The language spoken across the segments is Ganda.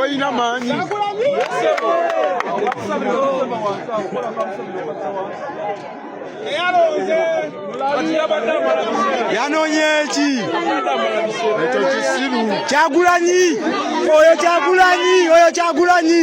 Oyina maanyi yanonye ki ekyo kisiru kyagulanyi oyo kyagulanyi oyo kyagulanyi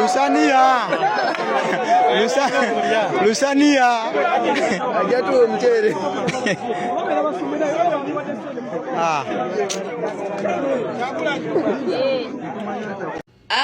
Lusania. Lusania. Hajatoa mchele. Ah.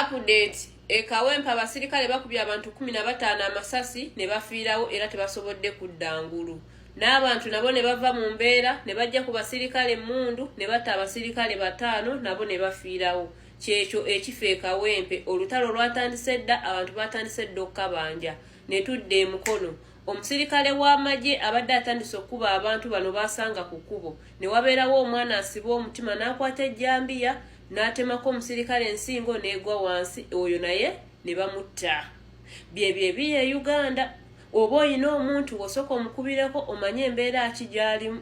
Update e Kawempe abasirikale bakubye abantu kumi na bataano amasasi ne bafiirawo era tebasobodde kudda ngulu n'abantu nabo ne bava mu mbeera ne bajja ku basirikale emmundu ne batta abasirikale bataano nabo ne bafiirawo kyekyo ekifa e Kawempe. Olutalo lwatandise dda, abantu baatandise dda okukabanja ne tudda e Mukono. Omusirikale w'amagye abadde atandise okukuba abantu bano baasanga ku kkubo ne wabeerawo omwana asiba omutima n'akwata ejjambiya n'atemako omusirikale ensingo n'egwa wansi oyo naye ne bamutta. Byebyo ebiri e Uganda. Oba olina omuntu w'osooka omukubireko omanye embeera ki gy'alimu.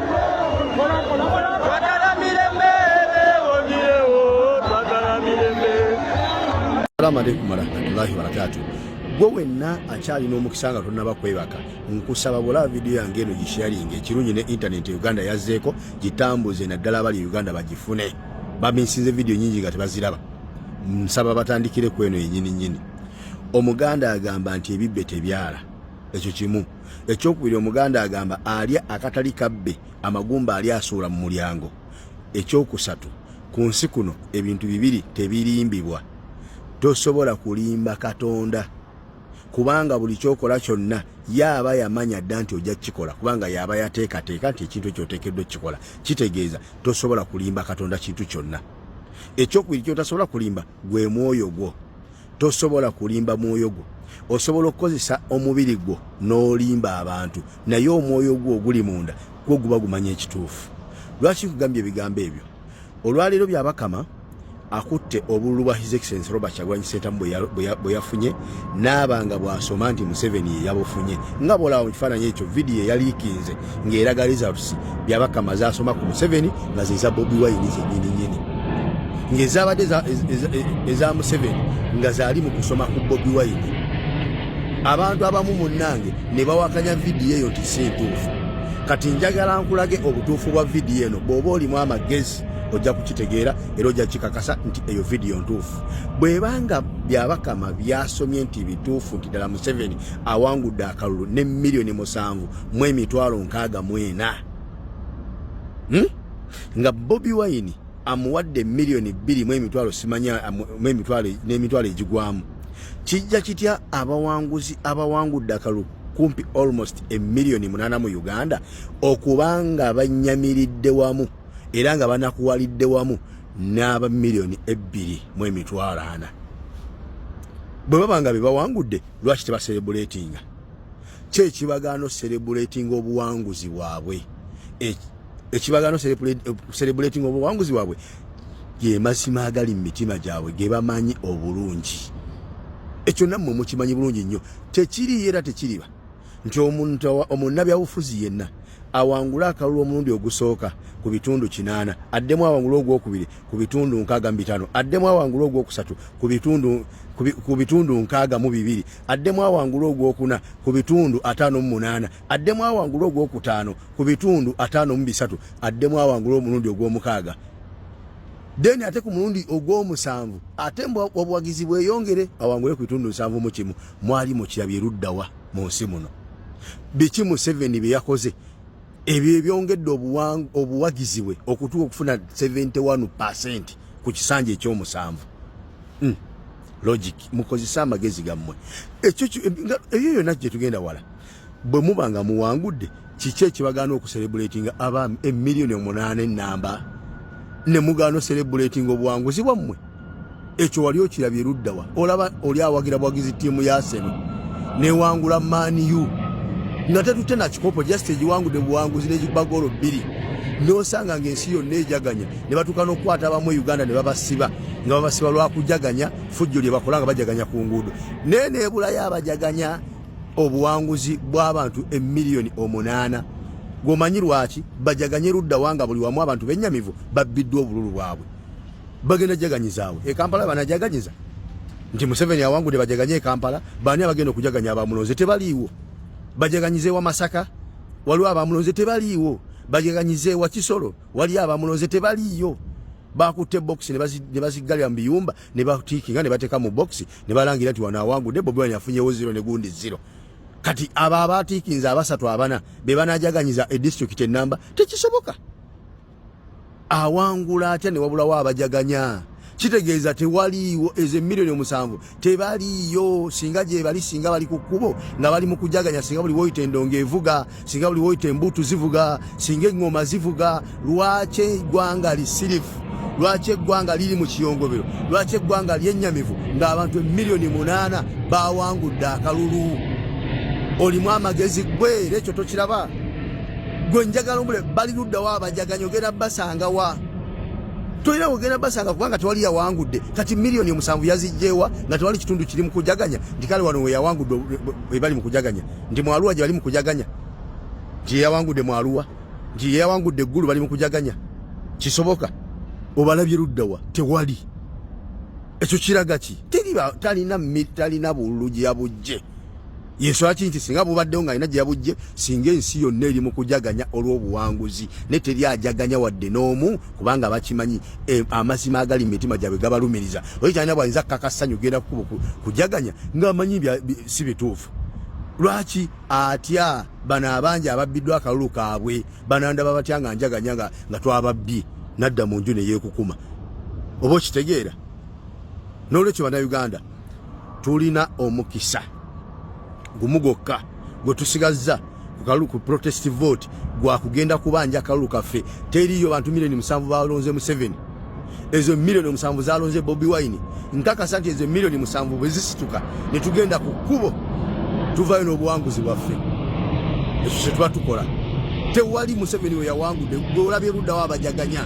Assalamu alaikum warahmatullahi wabarakatuh. Gwe wenna akyalina omukisa nga tonnaba kwebaka, nkusaba bwolaba vidiyo yange eno gisharinga ekirungi ne intaneti Uganda yazzeeko gitambuze naddala abali Uganda bagifune. Baminsinze vidiyo nyingi nga tebaziraba. Nsaba batandikire ku eno yennyini nnyini. Omuganda agamba nti ebibbe tebyala. Ekyo kimu. ekyokubiri omuganda agamba alya akatali kabbe amagumba ali asuula mu mulyango ekyokusatu ku nsi kuno ebintu bibiri tebirimbibwa tosobola kulimba katonda kubanga buli kyokola kyonna yaaba yamanya dda nti ojja kukikola kubanga yaaba yateekateeka nti ekintu ekyo oteekeddwa okukikola kitegeeza tosobola kulimba katonda kintu kyonna ekyokubiri kyotasobola kulimba gwe mwoyo gwo tosobola kulimba mwoyo gwo osobola okukozesa omubiri gwo n'olimba abantu naye omwoyo gwo oguli munda gwo guba gumanya ekituufu lwaki nkugambye ebigambo ebyo olwaleero byabakama akutte obululu bwa his excellence robert kyagwanyi sentamu bwe yafunye naaba nga bwasoma nti museveni yeyabufunye nga bwolaba mu kifaananyi ekyo vidiyo eyaliikinze ng'eraga results byabakama zasoma ku museveni nga zeza bobi wayini zenyini nyini ng'ezabadde eza museveni nga zaali mu kusoma ku bobi wayini abantu abamu munnange ne bawakanya vidiyo eyo nti si ntuufu kati njagala nkulage obutuufu bwa vidiyo eno bw'oba olimu amagezi ojja kukitegeera era ojja kikakasa nti eyo vidiyo ntuufu bwebanga byabakama byasomye nti bituufu nti ddala museveni awangudde akalulu ne miliyoni musanvu mu emitwalo nkaaga mu ena hmm? nga bobi wayini amuwadde miliyoni bbiri mu emitwalo simanya mu emitwalo n'emitwalo egigwamu kijja kitya abawanguzi abawangudde akalu kumpi almost emiliyoni munaana mu uganda okuba nga banyamiridde wamu era nga banakuwalidde wamu n'aba miliyoni ebbiri mu emitwalo ana bwe baba nga bebawangudde lwaki tebaserebuletinga kyo ekibagaano serebulatinga obuwanguzi bwabwe ekibagaano serebulatinga obuwanguzi bwabwe ge mazima agali mu mitima gyabwe ge bamanyi obulungi ekyo nammwe mukimanyi bulungi nnyo tekiriyo era tekiriba nti omuntu omunnabyabufuzi yenna awangule akalulu omulundi ogusooka ku bitundu kinaana addemu awangule ogwokubiri ku bitundu nkaaga mu bitaano addemu awangule ogwokusatu ku bitundu nkaaga mu bibiri addemu awangule ogwokuna ku bitundu ataano mu munaana addemu awangule ogwokutaano ku bitundu ataano mu bisatu addemu awangule omulundi ogwomukaaga then ate ku mulundi ogwomusanvu ate obuwagizi bweyongere awangule ku bitundu nsanvu mu kimu mwali mukirabye luddawa mu nsi muno biki museveni bye yakoze ebyo ebyongedde obuwagizi bwe okutuuka okufuna 71 percent ku kisanja ekyomusanvu hmm. logic mukozese amagezi gammwe ekyo ebyo yonna gye tugenda wala bwe muba nga muwangudde kiki ekibagaana okuserebulatinga abaami emiliyoni omunaana enamba ne mugaana oserebulatinga obuwanguzi bwammwe ekyo wali okirabye luddawa olaba oli awagira bwagizi tiimu ya seno newangula maniu nga tetutte nakikopo just egiwangudde buwanguzi negiba goolo bbiri nosanga ngaensi yonna ejaganya ne batuuka n'okukwata abamu e uganda ne babasiba nga babasiba lwakujaganya fujjo lye bakola nga bajaganya ku nguudo naye nebulayo abajaganya obuwanguzi bw'abantu emiliyoni omunaana gwomanyi lwaki bajaganye luddawa nga buli wamu abantu benyamivu babbiddwa obululu bwabwe bagenda jaganyizaawo e Kampala banajaganyiza nti Museveni awangude bajaganye e Kampala bani abagenda okujaganya abamulonze tebaliiwo bajaganyize wa Masaka waliwo abamulonze tebaliiwo bajaganyize wa Kisoro waliyo abamulonze tebaliiyo bakutte box ne baziggalira mu biyumba ne batiikinga ne bateeka mu box ne balangira nti wano awangude Bobi Wine afunyewo zero ne gundi zero kati abo abaatiikinze abasatu abana be banajaganyiza e district ennamba tekisoboka awangula atya ne wabulawo abajaganya kitegeeza tewaliiwo ezo emiliyoni omusanvu tebaliiyo singa gyebali singa bali ku kkubo nga bali mu kujaganya singa buli woyita endongo evuga singa buli woyita embuutu zivuga singa eŋŋoma zivuga lwaki eggwanga lisirifu lwaki eggwanga liri mu kiyongobero lwaki eggwanga lyennyamivu ng'abantu emiliyoni munaana bawangudde akalulu olimu amagezi gwe era ekyo tokiraba gwe njagala omule bali luddawo abajaganya ogenda basanga wa tolina wogenda basanga kubanga tewali yawangudde kati miliyoni omusanvu yazijjeewa nga tewali kitundu kiri mu kujaganya nti kale wano weyawangudde ebali mu kujaganya nti mwaluwa gye bali mu kujaganya nti yeyawangudde mwaluwa nti yeyawangudde eggulu bali mu kujaganya kisoboka obalabye luddawa tewali ekyo kiraga ki talina talina bululu gyabujje yensula ki nti singa bubaddewo nga alina gye yabujje singa ensi yonna eri mu kujaganya olw'obuwanguzi ne teri ajaganya wadde n'omu kubanga bakimanyi e, amazima agali mu mitima gyabwe gabalumiriza oyo kyalina bwayinza kukaka ssanyu genda kukuba kujaganya ng'amanyi si bituufu lwaki atya bano abangi ababbiddwa akalulu kaabwe banandaba batya nga njaganya nga twababbi nadda mu nju neyeekukuma oba okitegeera n'olwekyo bannayuganda tulina omukisa gumu gwokka gwe tusigazza kukalulu ku protest vote gwa kugenda kubanja akalulu kaffe teriyo bantu milioni musanvu balonze museveni ezo milioni musanvu zalonze bobi wine nkakasa nti ezo milioni musanvu bwe zisituka ne tugenda ku kkubo tuvayo n'obuwanguzi bwaffe ekyo kye tuba tukola tewali museveni we yawangudde gwe olabye luddawo abajaganya